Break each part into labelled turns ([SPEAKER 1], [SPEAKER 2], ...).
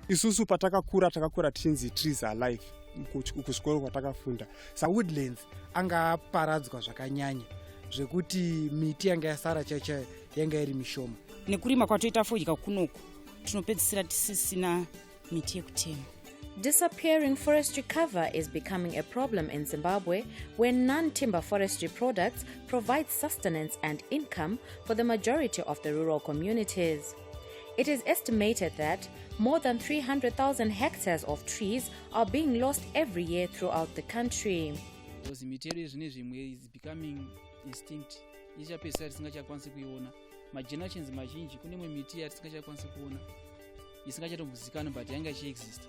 [SPEAKER 1] isusu patakakura takakura tichinzi trees are life kuchikoro kwatakafunda sawoodlands anga aparadzwa zvakanyanya zvekuti miti yanga yasara chaicha yanga iri mishoma nekurima kwatoita
[SPEAKER 2] fodya kunoku tinopedzisira tisisina miti yekutenga Disappearing
[SPEAKER 3] forestry cover is becoming a problem in Zimbabwe where non timber forestry products provide sustenance and income for the majority of the rural communities. It is estimated that more than 300,000 hectares of trees are being lost every year throughout the country. Because mitero
[SPEAKER 4] yezvine zvimwe is becoming extinct ichapedzisa tisingachakwanisi kuiona magenerations mazhinji kune imwe miti yatisingachakwanisi kuona isingachatombozikani but yanga ichiexista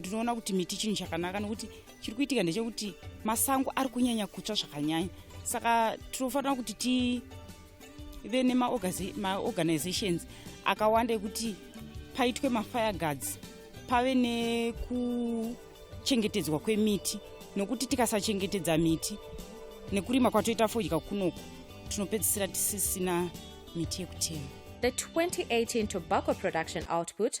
[SPEAKER 4] ndinoona kuti
[SPEAKER 2] miti chinhu chakanaka nokuti chiri kuitika ndechekuti masango ari kunyanya kutsva zvakanyanya saka tinofanira kuti tive nemaorganizations akawanda ekuti paitwe mafire guards pave nekuchengetedzwa kwemiti nokuti tikasachengetedza miti nekurima kwatoita fodya kunoku tinopedzisira tisisina miti yekutema The 2018
[SPEAKER 3] tobacco production output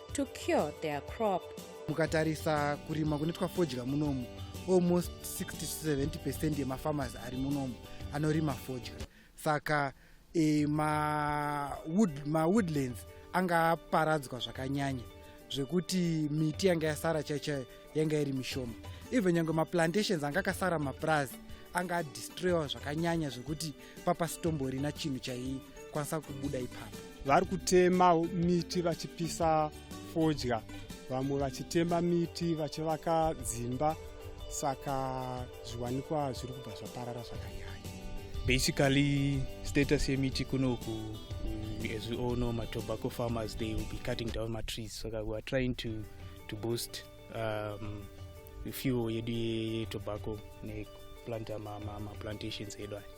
[SPEAKER 3] to cure their crop. Mukatarisa
[SPEAKER 1] kurima kunoitwa fodya munomu, almost 60 to 70% yemafarmers ari munomu anorima fodya. Saka e, ma, wood, ma woodlands anga aparadzwa zvakanyanya zvekuti miti yanga yasara chaichayo yanga iri mishoma even nyange maplantations anga akasara mapurazi anga adistroyiwa zvakanyanya zvekuti papasitomborina chinhu chaikwanisa kubuda ipapo vari kutema miti vachipisa fodya vamwe vachitema miti vachivaka dzimba saka zviwanikwa zviri kubva zvaparara zvakanyanya basically
[SPEAKER 5] status yemiti kunoku mm, as we all know matobaco farmers they will be cutting down matrees saka so we are trying to to boost um, fuel yedu yetobacco nekuplanta maplantations ma, ma edu aya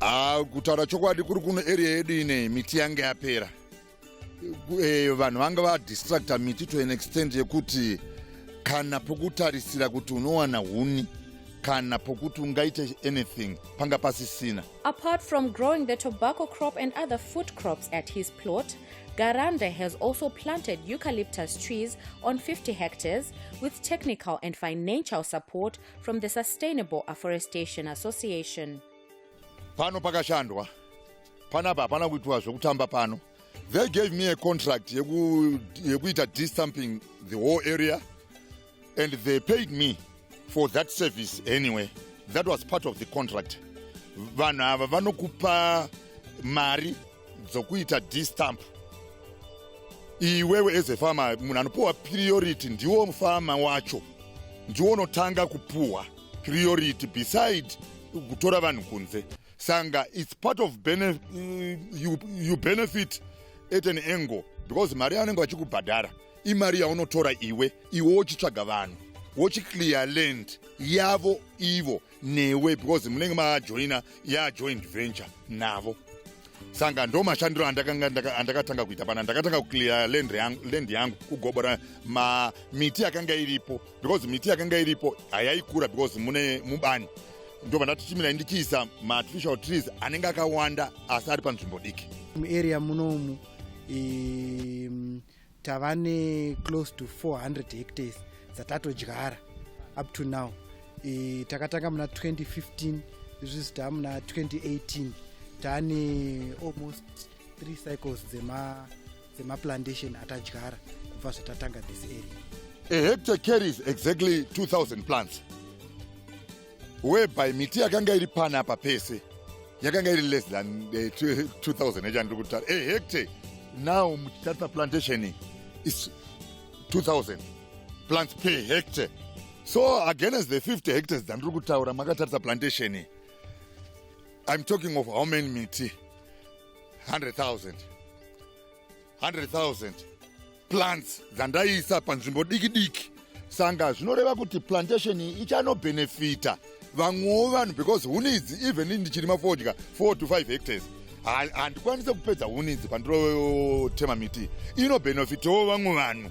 [SPEAKER 3] Ah,
[SPEAKER 6] kutaura chokwadi kuri kuno area yedu ine miti yange yapera eh, vanhu vanga vadistracta miti to an extent yekuti kana pokutarisira kuti unowana huni kana pokuti ungaite anything panga pasisina apart from
[SPEAKER 3] growing the tobacco crop and other food crops at his plot garande has also planted eucalyptus trees on 50 hectares with technical and financial support from the Sustainable Afforestation Association. Pano
[SPEAKER 6] pakashandwa. Panapa hapana kuitwa zvekutamba pano. They gave me a contract yeku yekuita destumping the whole area and they paid me for that service anyway. That was part of the contract. Vanhu ava vanokupa mari dzokuita distamp iwewe as a farmer munhu anopiwa priority ndiwo mufama wacho ndiwo unotanga kupuhwa priority beside kutora vanhu kunze sanga its part of benef uh, you, you benefit at an angle because mari yavanenge vachikubhadhara imari yaunotora iwe iwe wochitsvaga vanhu wochiclear land yavo ivo newe because munenge majoina yajoint venture navo sanga ndo mashandiro andakatanga kuita pana ndakatanga kuclear land yangu kugobora miti yakanga iripo because miti yakanga iripo hayaikura because mune mubani ndobva ndatichimira ndichiisa maartificial trees anenge akawanda asi ari panzvimbo diki muarea munomu
[SPEAKER 1] um, tava ne close to 400 hectares dzatatodyara up to now e, takatanga muna 2015 izvizvi taa muna 2018 taane almost three cycles dzemaplantation dzema atadyara kubva zvatatanga this area a hectare
[SPEAKER 6] carries exactly 2000 plants whereby miti yakanga iri pana apa pese yakanga iri less than uh, eh, 2000 echandiri kutaura a hectare now muchitarisa plantation is 2000 plants per hectare so against the 50 hectares dzandiri kutaura makatarisa plantation i'm talking of how many miti 100000 100,000 plants dzandaiisa panzvimbo diki diki sanga zvinoreva kuti plantation iyi ichanobhenefita vamwewo vanhu because huni idzi even ndichirima fodya 4 to 5 hectares handikwanise kupedza huni idzi pandinotema miti inobhenefitawo vamwe vanhu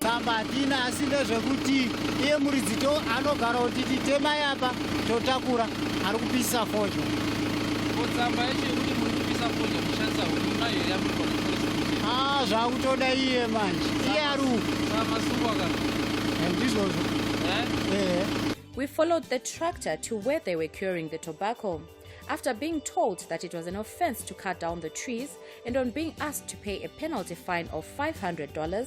[SPEAKER 3] tsamba hatina
[SPEAKER 1] asi ndezvekuti iye muridzi to anogara kuti titemai apa totakura ari kupisa fodya tsamba
[SPEAKER 4] yacho yekuti muri kupisa fodya kushandisa hurima iyo yamuri ah, zvakutoda iye
[SPEAKER 1] manje iye ari umasungwaka
[SPEAKER 4] eh, ndizvozvo
[SPEAKER 1] eh?
[SPEAKER 3] eh. We followed the tractor to where they were curing the tobacco. After being told that it was an offense to cut down the trees and on being asked to pay a penalty fine of $500,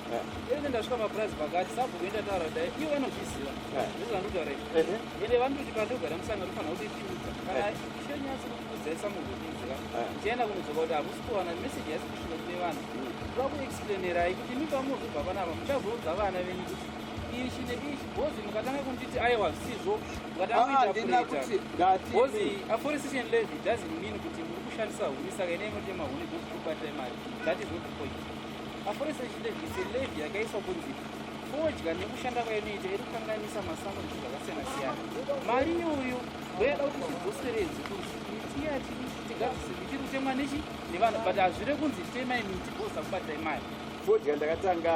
[SPEAKER 4] ende ndasvika mapurazi pakati sabhuku endataura kudai ivo vanozviziva ndizvo vandotaura izvi ende vanototi pandogara musanga tofanira kuti tiudza kana chinyatsi kutiudzesa munhu tiziva tichienda kunodzoka kuti hakusi kuwana meseji yasi kusvika kune vanhu kuva kuexplainerai kuti imi pamuzobva panapa muchazoudza vana venyu kuti ichi neichi bhozi mukatanga kunditi aiwa zvisizvo mukatangakuitabozi aforestation levy doesn't mean kuti muri kushandisa huni saka ine imotema huni dzokubatira imari that is not the point Mapurisa echindevise levy yakaiswa kunzi fodya nekushanda kwainoita iri kukanganisa masango nezvinhu zvakasiyana-siyana. Mari iyoyo ndoyada kuti zvidzoseredzi kuti miti yati tigadzise miti iri kutemwa nechi nevanhu but hazvire kunzi temai miti bosa kubatai mari fodya ndakatanga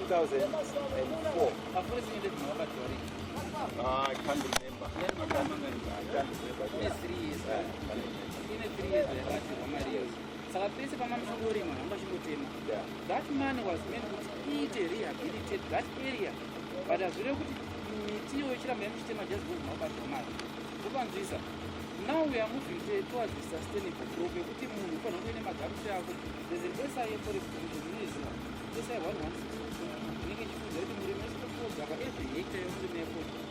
[SPEAKER 7] 2004 mapurisa
[SPEAKER 4] echindevise makabatwa rii Ah, I can't
[SPEAKER 7] remember.
[SPEAKER 4] I can't
[SPEAKER 7] remember. Ine
[SPEAKER 4] three years.
[SPEAKER 7] Ine
[SPEAKER 4] three years yakatirwa mari iyoyo. saka pese pamanoshongorima hamba chingotema that man was meant kuti iite rehabilitate that area but hazvireve kuti miti iyo ichiramba yamuchitema just because mabatwa mari zvopanzwisa now we are moving to towards the sustainable growth yekuti munhu ufanira kunge ne magamusi ako there's an SIA forest commission inoiziva SIA 116 inenge ichikuudza kuti murimi wese tokuodzaka every hectare yomurimi yako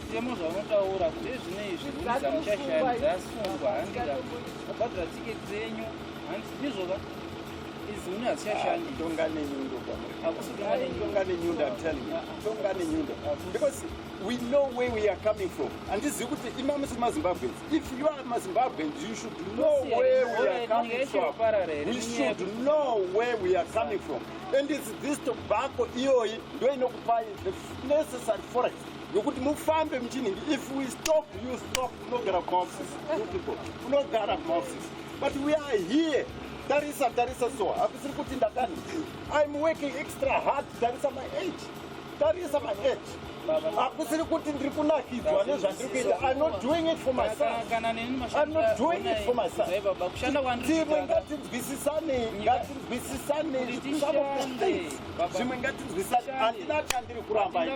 [SPEAKER 4] Mutemo zvaunotaura kuti ezvino izvi unza muchashanda dzasungwa handira kubhadhara tsike dzenyu hanzi ndizvoka izi une hazichashandi ah, tonga nenyundo
[SPEAKER 7] hakusi tonga nenyundo i'm telling you tonga nenyundo because we know where we are coming from handizivi kuti imami si mazimbabweans if you are mazimbabweans you should know where we are coming from we should know where we are coming from and it's this tobacco iyoyi ndoinokupai the necessary forest nokuti mufambe muchinhingi if we stop you stop unogara kumaoffices you people unogara kumaoffices but we are here tarisa tarisa so hakusiri kuti ndakani im working extra hard tarisa my age tarisa my age hakusiri kuti ndiri kunakidzwa nezvandiri kuita im not doing it for my sonim not doing it for my sontimwe ngatinzwisisanei ngatinzwisisanei zvimwe ngatinzwisane handina chandiri kuramba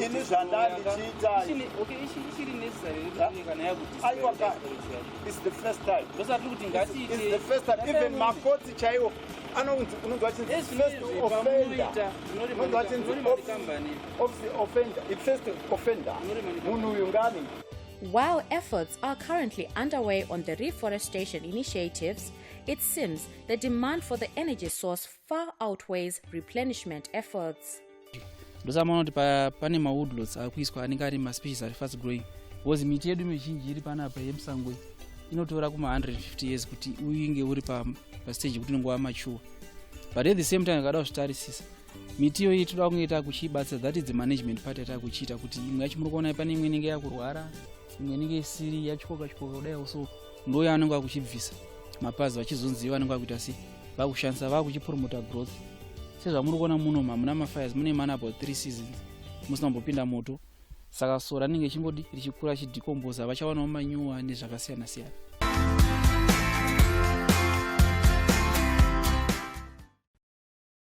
[SPEAKER 7] ini zvandandichiitamakoti chaiwo anonzi unonzwa chinzimunhu
[SPEAKER 3] uyu ngani While efforts are currently underway on the reforestation initiatives, it seems the demand for the energy source far outweighs replenishment efforts.
[SPEAKER 4] ndosamaona kuti pa- pane mawoodlots akuiswa anenge ari maspecies ari fast growing because miti yedu mizhinji iri panapa yemusango iyi inotora kuma 150 years kuti uinge uri pa, pa stage yekuti unenge wamachuwa but at the same time ukada kuzvitarisisa miti iyoyi toda kunge takuchiibatsa that is the management part yatakuchiita kuti imwe yacho muri kuona pane imwe inenge yakurwara imwe inenge isiri yachikoka chikoka kudai so ndo yaanenge akuchibvisa mapazi vachizonzi vanenge vakuita sei vakushandisa vakuchipromota growth sezvamuri kuona muno hamuna mafires mune man about three seasons musina mbopinda moto saka so ranenge chingodi richikura richidhicombosa vachawanawo manyuwa nezvakasiyana siyana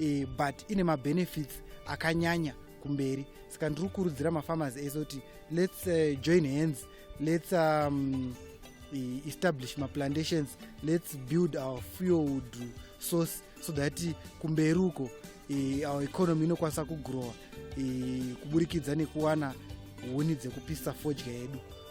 [SPEAKER 1] e, but ine mabenefits akanyanya kumberi saka ndiri kukurudzira mafarmers ese kuti lets uh, join hands lets um, e, establish maplantations lets build our fuelwood source so that kumberi uko e, our economy inokwanisa kugrowa e, kuburikidza nekuwana huni dzekupisa fodya yedu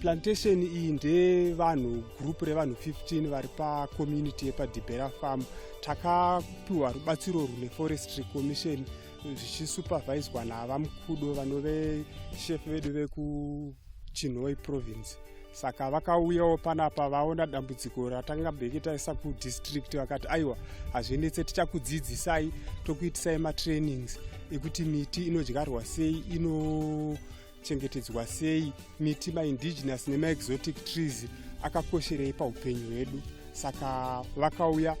[SPEAKER 3] plantation
[SPEAKER 8] iyi ndevanhu group revanhu 15 vari pacommunity yepadibera farm takapiwa rubatsiro rune forestry commission zvichisuperviswa navamkudo vanove chef vedu vekuchinhoi province saka vakauyawo panapa vaona dambudziko ratanga bheke taisa kudistrict vakati aiwa hazvinetse tichakudzidzisai tokuitisai matrainings ekuti miti inodyarwa sei ino chengetedzwa sei miti maindigenous nemaexotic trees akakosherei paupenyu hwedu saka vakauya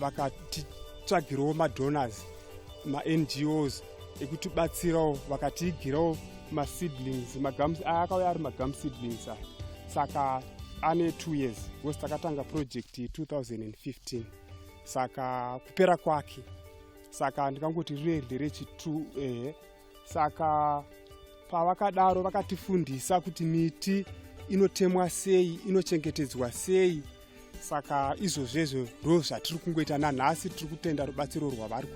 [SPEAKER 8] vakatitsvagirawo madonors mangos ekutibatsirawo vakatiigirawo maseedlings magums aya akauya ari magum seedlings aya saka ane two years bcause takatanga project 2015 saka kupera kwake saka ndikangoti rine nderechitu ehe eh, saka pavakadaro vakatifundisa kuti miti inotemwa sei inochengetedzwa sei saka izvozvezvo ndo zvatiri kungoita nanhasi tiri kutenda rubatsiro rwavari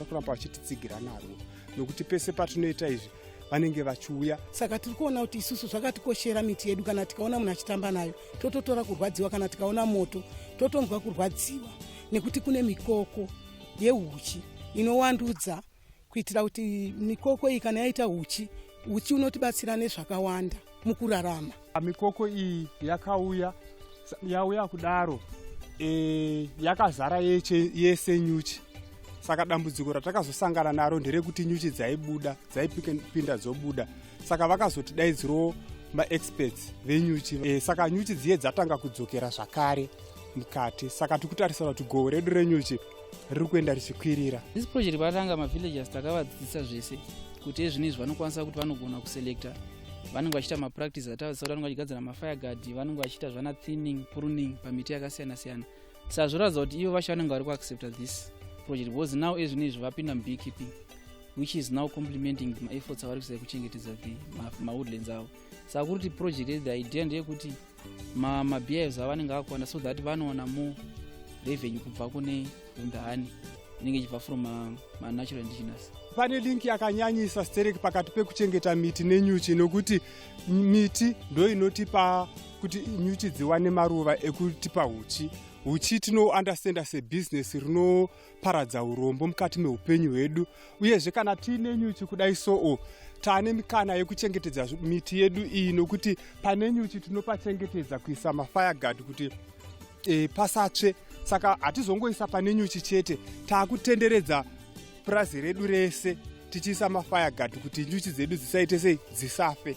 [SPEAKER 8] kuramba vachititsigira narwo nokuti pese patinoita izvi vanenge vachiuya saka tiri kuona kuti
[SPEAKER 9] isusu zvakatikoshera miti yedu kana tikaona munhu achitamba nayo tototora kurwadziwa kana tikaona moto totonzwa kurwadziwa nekuti kune mikoko yeuchi inowandudza kuitira kuti mikoko iyi kana yaita uchi uchi unotibatsira nezvakawanda mukurarama mikoko iyi
[SPEAKER 8] yakauya yauya kudaro e, yakazara yeche, yese nyuchi saka dambudziko ratakazosangana naro nderekuti nyuchi dzaibuda dzaipinda dzobuda saka vakazotidaidzirawo maexperts venyuchi e, saka nyuchi dziye dzatanga kudzokera zvakare mukati saka tikutarisira kuti goho redu renyuchi riri kuenda richikwirira this project patanga
[SPEAKER 4] mavillagers takavadzidzisa zvese kuti ezvino izvi vanokwanisa kuti vanogona kuselecta vanenge vachiita mapractice atavadzisa kuti vanenge vachigadzira mafire guard vanenge vachiita zvana thinning pruning pamiti yakasiyana siyana sa zvoratidza kuti ivo vacho vanenge vari kuaccepta this project because now ezvino izvi vapinda mubeekeeping which is now complementing maefforts avari kuisa ekuchengetedza mawoodlands avo saka kuri kuti project the idea ndeyekuti ma mabeers avanenge akwana so that vanoona more revenue kubva kune vundahani inenge ichibva from uh, manatural indigenous pane
[SPEAKER 8] link yakanyanyisa sterek pakati pekuchengeta miti nenyuchi nokuti miti ndo inotipa kuti nyuchi dziwane maruva ekutipa uchi uchi tinounderstanda sebusiness paradza urombo mukati meupenyu hwedu uyezve kana tiine nyuchi kudai soo tane mikana yekuchengetedza miti yedu iyi nokuti pane nyuchi tinopachengetedza kuisa mafayagard kuti e, pasatsve saka hatizongoisa pane nyuchi chete taakutenderedza purazi redu rese tichiisa mafayagard kuti nyuchi dzedu dzisaite sei dzisafe